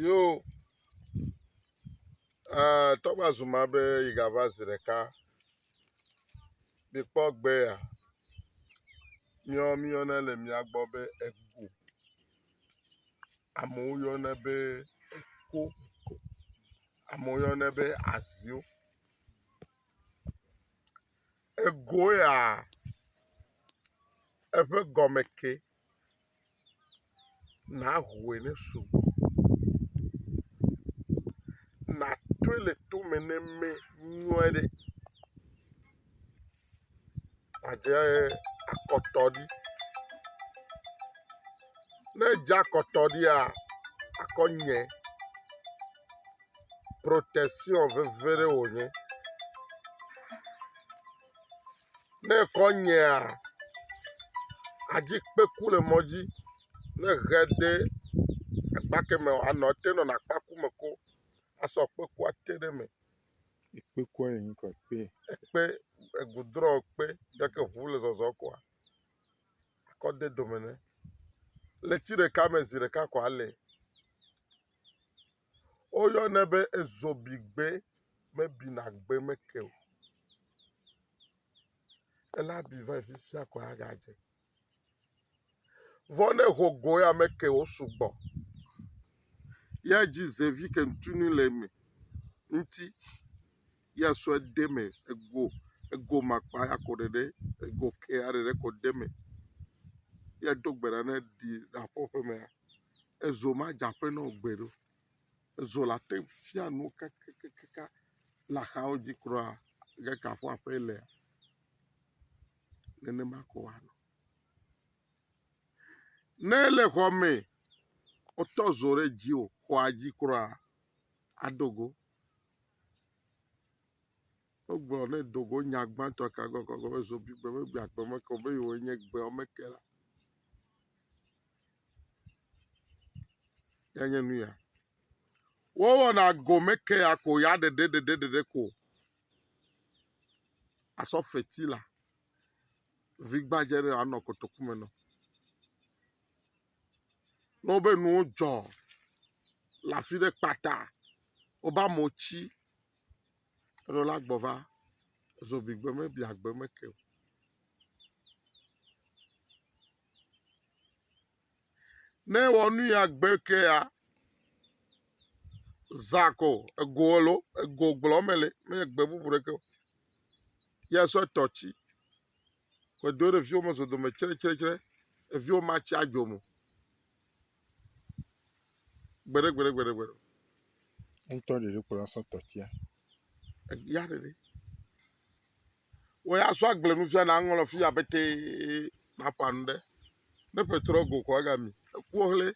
Yo, eh, tɔgba zuma be yi gava zi ɖeka. Mikpɔ gbe ya. Míɔ míyɔnɛ le mía gbɔ be ego. Amewo yɔnɛ be eko. Amewo yɔnɛ be azio. Egoeaa, eƒe gɔme ke, nàhoe ne sugbɔ, nàtoe le tome ne me nyuie ɖe. Àdze akɔtɔ ɖi. Ne èdze akɔtɔ ɖia, akɔ nyɛ. protection veve ɖe wònye. Ne ekɔ nyea, adzi kpe ku le mɔ dzi. Ne ehe de akpa keme o, anɔ te nɔna akpa ku me ko asɔ kpe kua te ɖe eme. Ekpe kua le ŋkɔ kpe. Ekpe egudrɔ kpe yike ŋu le zɔzɔm koa ekɔ de dome ne. Ʋleti ɖeka me zi ɖeka koa ele. Woyɔnɛ be ezobigbe mebina gbe me ke o. Ele abi va yi fi sia ko aga dze. Vɔ ne eho go ya me ke wo sugbɔ. Ye edzi ze vi ke ŋtunu le eme ŋti ye esɔ de eme ego ego makpa ya ko ɖeɖe ego ke ya ɖeɖe ko de eme ye do gbe ɖa ne ɖi ɖa ƒe ƒemea. Ezo madze aƒe na wò gbeɖe o. Ezo la te fia nuwo kakakaka le axawo dzi kura gake kafɔ aƒee le. Nenema ko wòanɔ. Ne ele xɔ me wotɔ zo ɖe dziwò xɔa dzi kura ado go. Wogblɔ ne do go nya gbãtɔ ka gɔgɔgɔ be zobi gbe megbea agbe meke o be yewoe nye gbeawo meke la, ya nye nu ya. Wowɔna gome ke ya ko ya ɖeɖe ɖeɖe ɖeɖe ko. Asɔ feti la vi gbadze ɖe anɔ kotoku me nɔ. Ne wobe nuwo dzɔ le afi ɖe kpata wobe amewo tsi Eɖo la gbɔ va zobigbe me bia gbe me ke o. Ne ewɔ nu ya gbe ke ya, zã ko ego elo ego gblɔ me le menye gbe bubu ɖeke o. Ye sɔ tɔtsi. Kpɔdo ɖe viwo me zodome tsretsretsre. Eviwo ma tsi adzo mo. Gbeɖe gbeɖe gbeɖe gbeɖe. Ŋutɔ ɖeɖe ko la sɔ tɔ tsia. Eya ɖeɖe. Wɔ ya sɔ agble nu fia na ŋlɔ fi abe te na ƒa nu ɖe. Ne petrɔ go kɔ aga mi. Eku hle.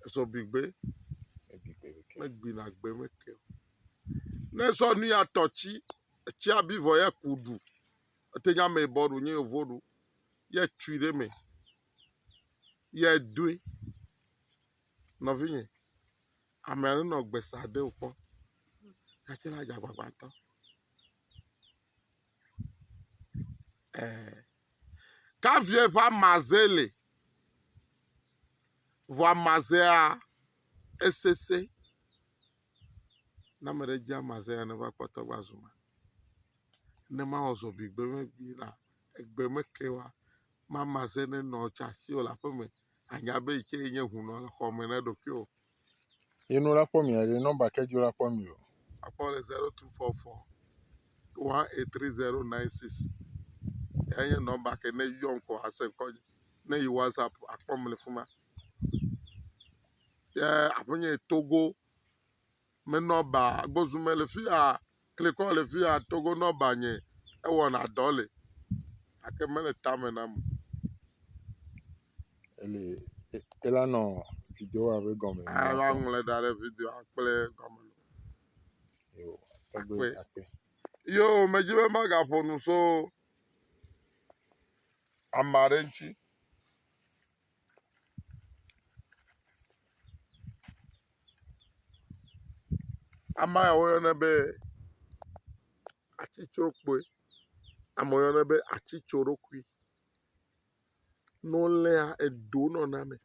Esɔ bi gbe. Ebi gbe ke. Egbi na gbe me ke. Ne sɔ nu ya tɔ tsi. etsia bi vɔ ye ku ɖu. Ete nye ameyibɔ ɖu nye yevo ɖu ye tsui ɖe me ye doe. Nɔvinye, ame aɖe nɔ gbe sa de wò kpɔ gake la dze agbagba ŋutɔ. Ɛɛ. Kavie ƒe amaze le vɔ amazea esese. Ne ame ɖe dzi amazɛ ya neva kpɔtɔ va zu ma. Ne mawɔ zɔbi gbe me gbi la egbe me ke wa mamazɛ ne nɔ tsa si o le aƒe me anya be yi ke nye hunɔ le xɔ me ne ɖokui o. Ye no la kpɔ mi are nɔmba ke dzo la kpɔ mi o. Akpɔ le zero two four four one eight three zero nine six. Ya nye nɔmba ke ne yɔm ko ase ŋkɔ ne yi whatsapp akpɔ mi le fima. ye aƒenye yi Togo me nɔba gbɔsusu mele fi ya klikɔ le fi ya Togo nɔba nye ewɔna dɔ li gake mele tame nam o. Ele e ela nɔ video wa be gɔme. Aa va ŋlɔe da ɖe video akple gɔme lo. Yo, tɔgbe Akpe. akpe. Yo medzi be magaƒo nu so ame aɖe ŋuti. Ama ya woyɔnɛ be atsitsrokpoe. Ama ya woyɔnɛ be atsitsoɖokui. Ne woléa, edo nɔna eme.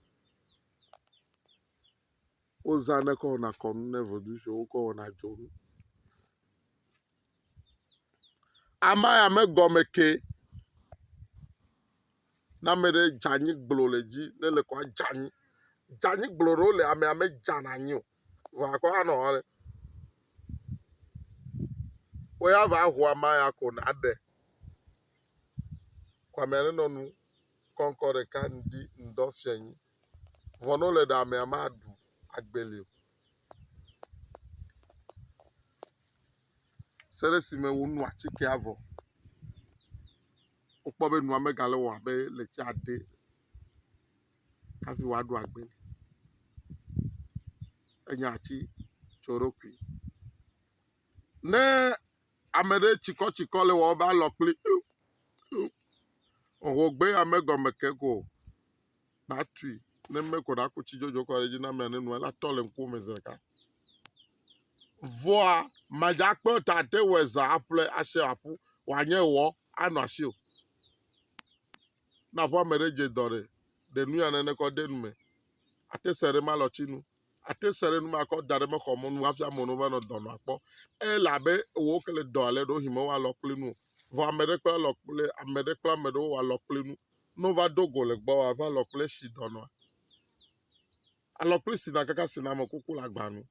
Wozãɖe kɔ wɔna kɔnu ne vodushi wokɔ wɔna dzonu. Amaya megɔme ke. Ne ame ɖe dze anyi gblo le dzi ne le ko adze anyi. Dze anyi gblo ɖewo le amea medzana anyi o. Vɔa ekɔ anɔ hɔ ɖe. Wo ya va ho amaya ko naɖe. Ko amea ɖe nɔ nu kɔŋkɔ ɖeka ŋdi ŋdɔ fiɔ anyi. Vɔ ne wo le ɖe amea maɖu agbeli o. Se ɖe si me wonu atikea vɔ. Wokpɔ be nua megale wɔ abe le tsia ɖe hafi woaɖo agbe. Enye atitsoɖoƒi. Ne ame ɖe tsikɔtsikɔ le wɔwɔ be alɔ kpli ip ip ohogbeyame gɔme ke ko o. natui ne eme ko ɖaku tsi dzodzo kɔ ɖe edzi na amea ne nua latɔ le ŋkuwo me zi ɖeka. Vɔa madzakpe o ta ate wɔ eza aƒle ase aƒu wòanye wɔ anɔ asi o. Na ƒe ame ɖe dze dɔ ɖe ɖe nu ya nene kɔ de nu me. Ate se ɖe ma lɔtsi nu. Ate se ɖe nu ma kɔ da ɖe mexɔ mo nu hafi amewo va nɔ dɔ nɔ akpɔ. Elabe wò ke le dɔ ale ɖo hime wa lɔ kple nu o. Vɔ ame ɖe kple alɔ kple ame ɖe kple ame ɖewo wɔ alɔ kple nu. Ne wova do go le gbɔwò ava alɔ kple si dɔnɔa. Alɔ kple si na kaka si na ame kuku le agba nu.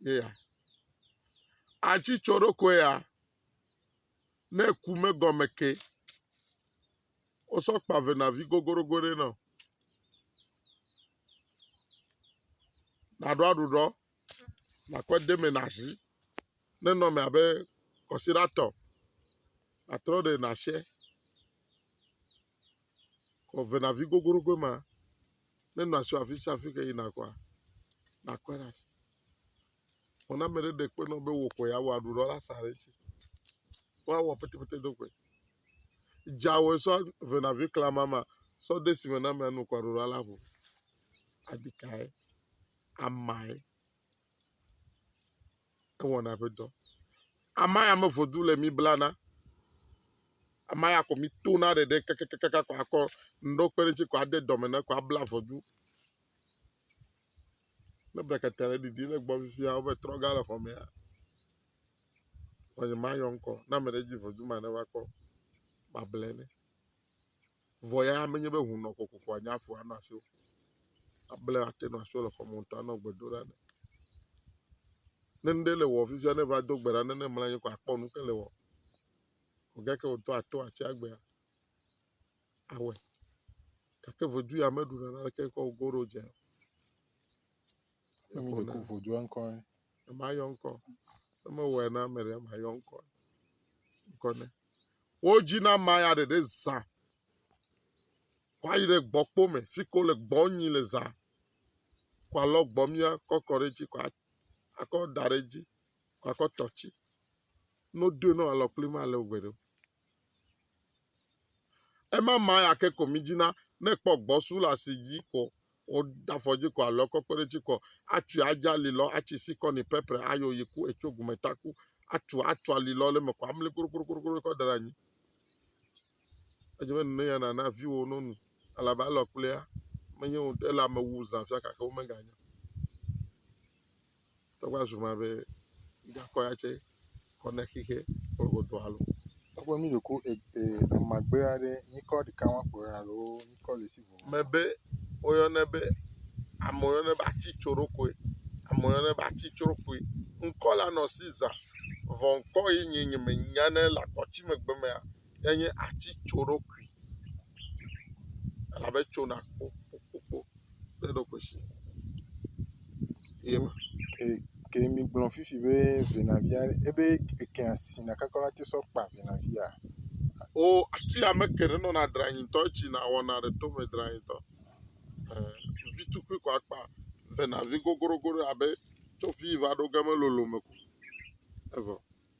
Ye ya. Atsi tsɔ ɖokui ya. Ne ku megɔme ke. Wosɔ kpa venavi gogorogo ɖe nɔ. Naɖo aɖuɖɔ. Nakɔ deme na zi. nenɔ eme abe kɔsiɖa tɔ. Atrɔ ɖe nàse kɔvenavi goglogoe ma. Ne nɔ asi afi sia afi ke yina kɔa, nàkɔe ɖe asi. Vɔ ne ame ɖe ɖe kpe na wò be wò koe awɔ aɖu ɖɔ la, sa ɖe edzi. Woawɔ petepete do goe. Dza wòe sɔ venavi klama ma sɔ de si me na amea nu kɔ aɖu ɖɔ la ŋu. Adi kae? Amae. ewɔna eƒe dɔ. Ama ya mevo du le mi blana, ama ya ko mi tona ɖeɖe kakakaka ko akɔ ŋɖewo kpe ɖe eŋuti ko ade dɔme na ko abla ŋɔdu. Ne brekete le ɖiɖi le gbɔ fifia wova trɔ ga le xɔ mea, ŋɔnye mayɔ ŋkɔ na ame ɖe dzi ŋɔdu ma neva kpɔ mable nɛ. Vɔ ya menye be ŋu nɔ kokoko anye afu anɔ asi o. Able ate nɔ asi le xɔme ŋutɔ anɔ gbe dom ɖa nɛ. Ne nuɖe le wɔ fifia ne va do gbe ɖa ne ne mlɔ anyi ko akpɔ nu ke le wɔ. Gake wotɔ ato atsi agbea awɔe gake vedu ya meɖu neneke kɔ goɖo dze o. Ne mi ɖeko vo dzɔa ŋkɔ ɛ. Ne ma yɔ ŋkɔ. Ne me wɔe na ame ɖe ma yɔ ŋkɔ. Ŋkɔ ne. Wo dzi na ma ya ɖeɖe zã. Kɔ ayi ɖe gbɔ kpo me. Fi ko le gbɔ nyi le zã. Kɔ alɔ gbɔ mia kɔ kɔ ɖe dzi kɔ akɔ da ɖe dzi. Kɔ akɔ tɔtsi. No do no alɔ kpli ma le ugbe ɖo. Ema ma ya ke ko mi dzina ne kpɔ gbɔ su la si dzi ko o da fɔ dzi ko alɔ kɔ kpe ɖe tsi kɔ atui adza li lɔ atsi si kɔ ni pɛpɛrɛ ayo yi ku etso gume ta ku atu atu ali lɔ le me ko amli kuro kuro kuro kuro kɔ da ɖe anyi edze be nene ya nana vi wo no nu alabe alɔ kplea menye wo ele ame wu zã fia gake wo me ga nya Eva zu ma be mígakɔ ya tse kɔ ne xixe kple wò dɔ alo. Togbɔ mí ɖeko e e amagbe aɖe nyikɔ ɖeka wɔm kpɔ ya alo nyikɔ le si vɔ. Mebe woyɔnɛ be ame woyɔnɛ be atsitsoɖokoe. Ame woyɔnɛ be atsitsoɖokoe. Ŋkɔ la nɔ si zã vɔ ŋkɔ ye nye nye menyanɛ le akɔtsi megbe mea enye atitsoɖoɖi elabe etso na kpokpokpokpo ɖe eɖokui si ye me. Ke ke migblɔ fifi be vinavia ebe ekea sina kakɔ la te sɔ kpa vinavia. O ati ame ke ɖe nɔna dranyi ŋutɔ etsi na wɔna ɖe to me dranyi ŋutɔ. E vi tukui kɔ akpa venavi gogorogo ɖe abe tso vi va ɖo ge melolo me ko evɔ.